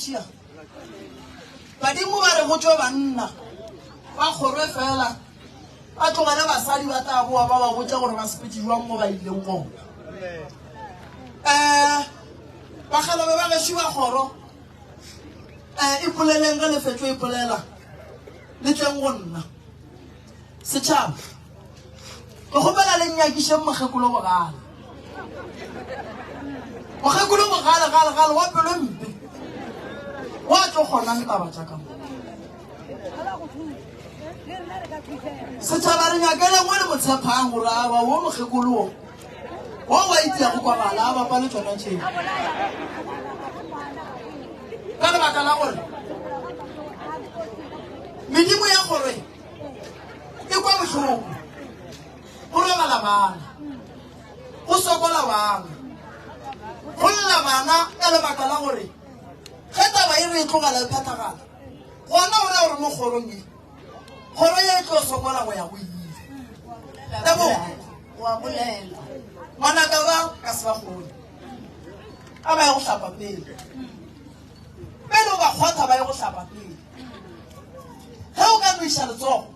sia badimo ba re go tšwe banna ba kgorwe fela ba tlogele basadi ba tla boa ba ba botša gore ba sepetse jwang mo ba ileng gona um eh, bakgalobe ba geši ba kgoro um eh, e poleleng ge lefetlo e polela le tleng go nna Setšhaba, ke kgopela le nnyakišeng mokgekolo bogale. Mokgekolo bogale gale gale wa pelo mpe wa tlo kgonang taba tša ka mo. Setšhaba re nyakeleng o le motshephang gore aba wo mokgekolo wo wo wa itseyago kwa gala a bapa le tsona tšeo ka lebaka la gore medimo ya gore e kwa bohloko o robala bana o sokola bana go lla bana ka lebaka la gore ge taba e re e tlogela e phethagala gona o ra gore mo kgorong e kgoro ye e tlo sokola go ya go ile ngwanaka ba ka se ba kgone a ba ya go hlapa pele pele o ba kgotha ba ye go hlapa pele ge o ka noiša letsogo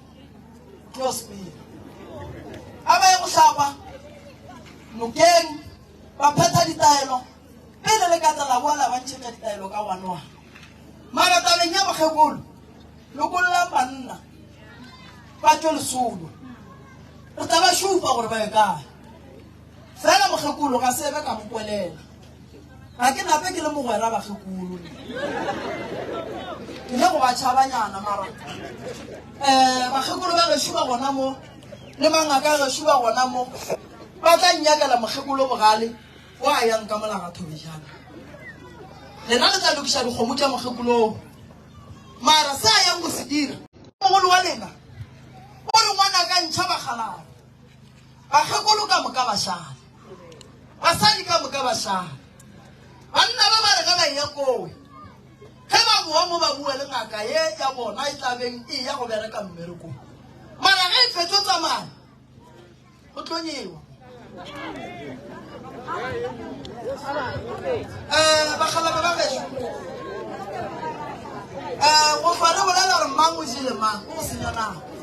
close pele a ba ye go hlapa nokeng ba phetha ditaelo pele le ka tsela boa la ba ntšhetša ditaelo ka wanoa mara tabeng ya bokgekolo lokollang banna ba tšwe lesolo re tla ba šupa gore ba ye kae Fela mokgekolo ga sebe ka mo kwelela. Ga ke nape ke le mogwera bakgekolo. Ke le go ba tšhabanyana mara eh bakgekolo ba gešo ba gona mo le mangaka a gešo ba gona mo ba tla nnyakela mokgekolo bogale o a yang ka molaga thobejana. Lena le tla lokiša dikgomo tša mokgekoloo mara se a yang go se dira mogolo wa lena o re ngwana ka ntšha bakgalana. Bakgekolo ka moka ba šale. Basadi ka moka ba šale. Banna ba ba re ge ba eya kowe, ge ba boa mo ba bua le ngaka ye ya bona e tla beng e ya go bereka mmerekong. Mara ge e fetšo tsamaya, go tlo nyewa. Eh, bakgalabe ba gešo. Eh, go fa re bolela gore mang o jele mang, o go senya nako.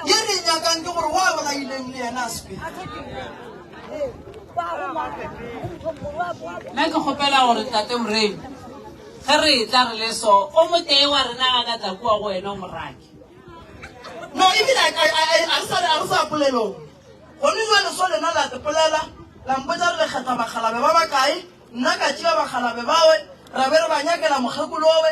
ye re nyakang ke gore wa bona ileng le yena a sepele nna ke kgopela gore tate moremi ge re tla re le so o motee wa rena ga ka tla kua go wena o morake no ebile a re sa polelong gone jale so lena la te polela lampotsa re lekgetha bakgalabe ba bakae nna ka tšea bakgalabe bawe ra be re ba nyakela mokgekolowe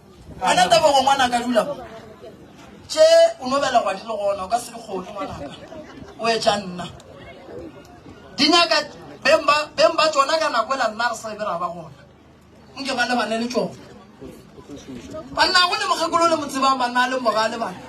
Wena Tebogo ngwanaka dula mo. Tše o no belegwa di le gona o ka se di kgone ngwanaka. O etša nna. Di nyaka beng ba beng ba tšona ka nako ela nna re sa be ra ba gona. Nke ba lebane le tšona. Banna go le mokgekolo le mo tsebang banna a leng bogale bana.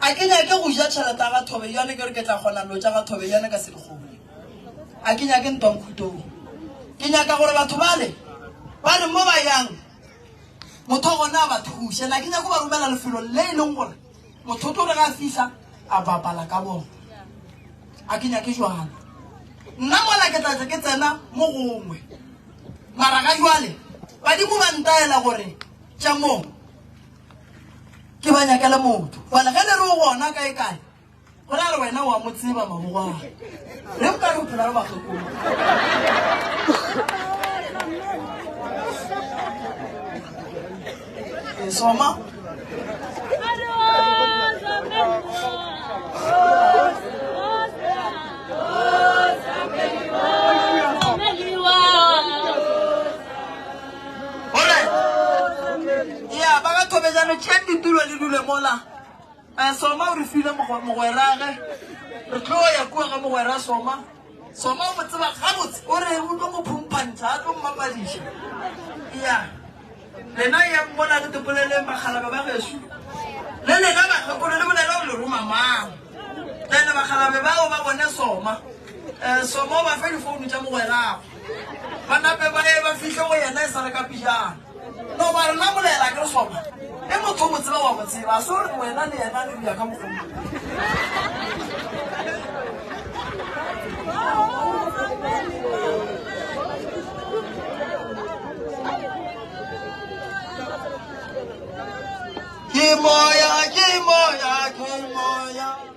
A ke nyake go ja tšhelete ya ga Thobeyane ke re ke tla kgona dilo tša ga Thobeyane ka selegobu? A ke nyake ntwa Nkhutong. Ke nyaka gore batho bale ba re mo ba yang motho gona a ba thuše. Na ke nyake go ba romela lefelong le e leng gore motho o tlo re ga a fihla a bapala ka bona. A ke nyake jwalo. Nna mola ke tla tla ke tsena mo gongwe. Mara ga jwale badimo ba ntaela gore tša mo. ke ba nyakele motho fale ge le re o gona kae kae go ra re wena wa mo tseba mamogoa re o ka re o phela re bakgekolo esoma Ore, ya ba ga thobejano tšeng ditulo le dule mola. Eh, Soma o re file mogwerage. Re tlo ya kua ga mogwera Soma. Soma o mo tseba gabotse. O re o tlo go phumphantšha, a tlo mmapadiša. Ya. Lena ya mmola re tepoleleng bakgalaba ba geso. Le lena bakgekolo le bolela gore le roma mang. Then bakgalabe bao ba bone Soma. Eh, Soma o ba fe difounu tša mogwerago. ba nape ba ye ba fihle go yena e sa re ka pijana no ba re namolela ke re sona e motho mo tseba wa mo tseba so re wena le yena le bja ka mokgwa ke moya ke moya ke moya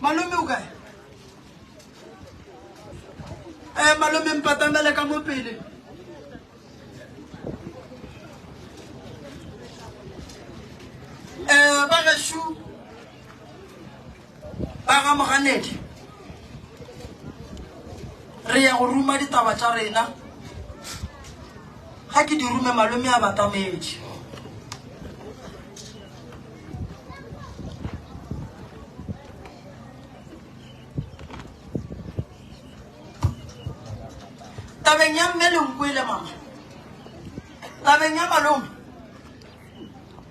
malome o kae um eh, malome mpatamele ka mo pele um eh, ba gašu Ba ga Moganedi, re ya go ruma ditaba tša rena. Ga ke di rume, malome a batametše. Tabeng ya mme le nkwele mama, tabeng ya malome,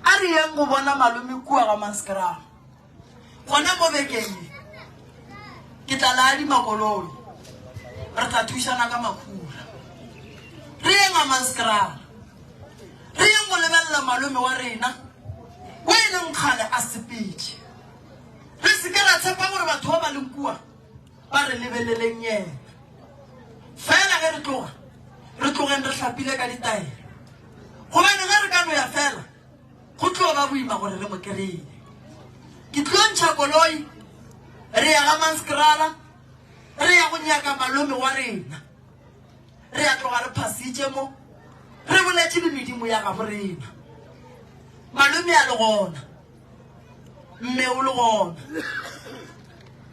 a re yeng go bona malome kua ga Maskrama. Gona mo bekeng ye, ke tla le adima koloi, re tla thušana ka makhura. Re yeng Hammanskraal, re yeng go lebelela malome wa rena o e leng kgale a sepetše. Re se ke ra tshepa gore batho ba ba leng kua ba re lebeleleng yena. Fela ge re tloga, re tlogeng re hlapile ka ditaelo, gobane ge re ka no ya fela, Go tlo ba boima gore re mo kry-e. Ke tlo ntšha koloi re ya ga Manskrala re ya go nyaka malome wa rena. Re ya tloga re phasitše mo re boletše le medimo ya gabo rena. Malome a le gona, mme o le gona.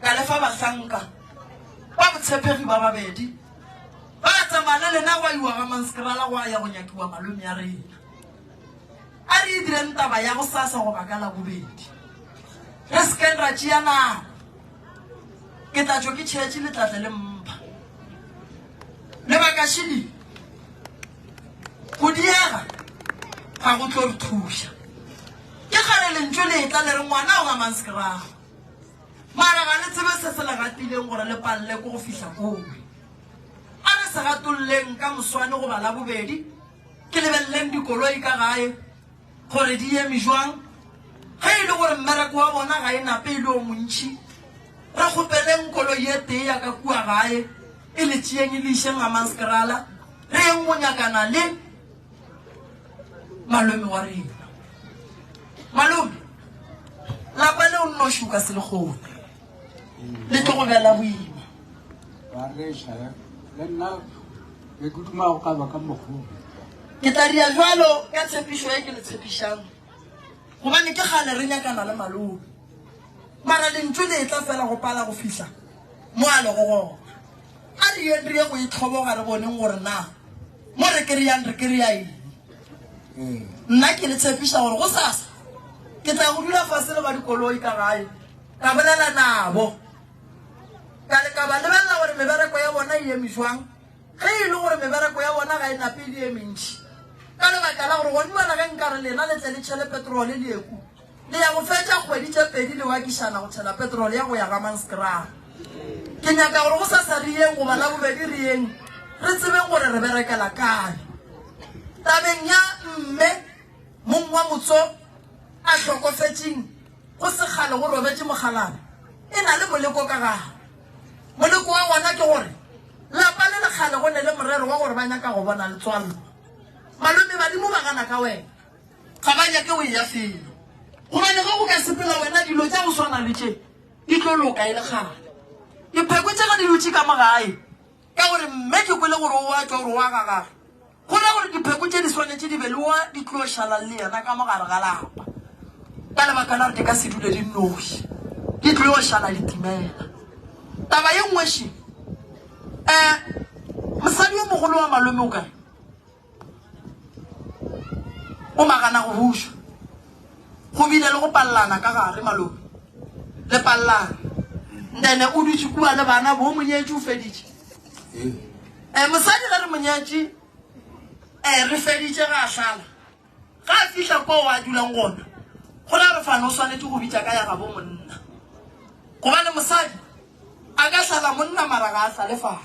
Ka lefa bahlanka ba botshepegi ba babedi ba tsamaya le lena gwa iwa ga Manskrala gwa ya go nyakiwa malome ya rena. A re e direng taba ya gosasa goba ka Labobedi. Re se keng ra tšea nako. Ke tla tšwa ke tšhetše le tla tla le mpha. Lebaka šili, go diega ga go tlo re thuša. Ke kgale lentšu le etla le re ngwana o gamang sekerago. Mara ga le tsebe se se le gatileng gore le palle ko go fihla kowe. A re se gatolleng ka moswane goba Labobedi. Ke lebeleleng dikoloi ka gae gore di eme jwang. Ge e le gore mmereko wa bona ga e nape e le o montši, re kgopeleng koloi e tee ya ka kua gae e le tšeeng e le išeng Hammanskraal, re yeng go nyakana le malome wa rena. Malome, lapa leo nnoši o ka se le kgone. le tlo go bjala boima ke tla dia jalo ka tshepišo e ke le tshepišang gobane ke gale re nyakana le malobe mara lentso le e tla fela go pala go fihla mo a lego gona a re yeng re ye go itlhoboga re boneng gore na mo re kry-ang re kry-a eng nna ke le tshepiša gore go sasa ke tla go dula fase le ba dikoloi ka gae Ka bolela nabo, ka le ka ba lebelela gore mebereko ya bona e eme jwang, ge e le gore mebereko ya bona ga e nape e le e mentši. Ka lebaka la gore gone bjale ge nka re lena le tle le tšhele petrole leeku, le ya go fetša kgwedi tše pedi le wakišana go tšhela petrole ya go ya Ramanskraal. Ke nyaka gore go sa sa re yeng goba la bobedi re yeng, re tsebeng gore re berekela kae. Tabeng ya mme mong wa motso a hlokofetšeng, Go se kgale go robetše mokgalabje e na le moleko ka gago. Moleko wa gona ke gore lapa le le kgale go ne le morero wa gore ba nyaka go bona letswalo. Malome badimo ba gana ka wena. Ga ba nyake o eya felo. Gobane ge o ka sepela wena dilo tša go swana le tše di tlo loka e le kgale. Dipheko tša ka di dutše ka mo gae. Ka gore mme ke kwele gore o a tšwa gore o a gagaga, go ra gore dipheko tše di swanetše di be le wa di tlo šalang le yena ka mo gare ga lapa, ka lebaka la gore di ka se dule di nnoši, di tlo yo šala di timela. Taba ye nngwe še, eh, mosadi yo mogolo wa malome o ka re, O magana go buša. Go bile le go pallana ka gare, malope. Le pallana. Ndene o dutše kua le bana, bo monyetši o feditše. Eh, mosadi ge re monyetši, eh, re feditše ga a šala. Ga a fihla kwa o a dulang gona. Go la re fana o swanetše go bitša ka ya gabo monna. Gobane mosadi, a ka šala monna mara ga a šale fana.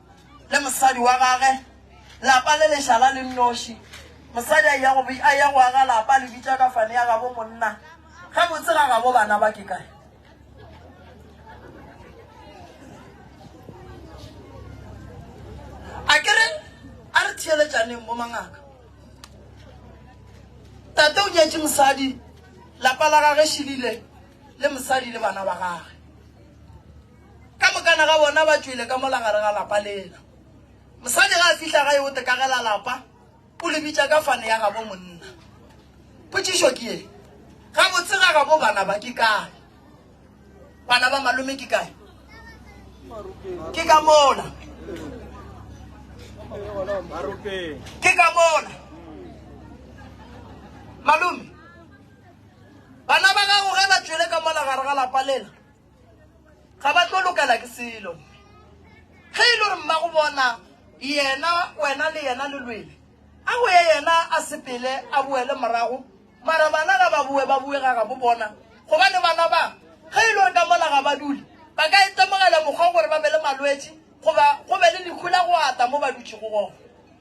Le mosadi wa gage. Lapa le lešala le nnoši. Mosadi a eya go, a eya go aga lapa, a le bitša ka fane ya gabo monna. Gabotse ga gabo bana ba ke kae? A ke re, a re theeletšaneng bo mangaka. Tate o nyetše mosadi, lapa la gage šilile, le mosadi le bana ba gage. Ka mokana ga bona ba tšwele ka mola gare ga lapa lela. Mosadi ga a fihla gae o tekagela lapa, o le bitša ka fane ya gabo monna. Potšišo ke ye, gabotse ga gabo bana ba ke kae? Bana ba malome ke kae? Ke ka mola. Ke ka mola. Malome, bana ba gago ge ba tšwele ka mola gare ga lapa lela, ga ba tlo lokela ke selo ge e le gore mmago bona yena wena le yena le lwele a go ye yena a sepele a boele morago mara bana ga ba boe ba bue ga gabo bona gobane bana ba ge e le gore ka mola ga ba dule ba ka itemogela mokgwa gore ba be le malwetši goba go be le lehu la go ata mo ba dutšego gona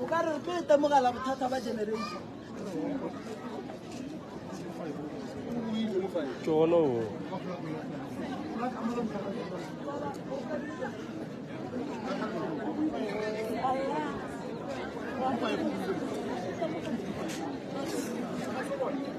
o ka re re tlo itemogela bothata ba generation tšono Thank you.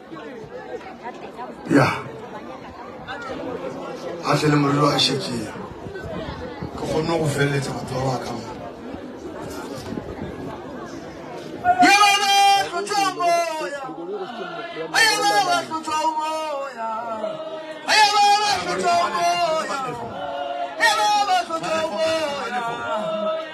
ya a tle le morelo a šekea ke kgonne go feleletsa batho ba ba ka mona Hey,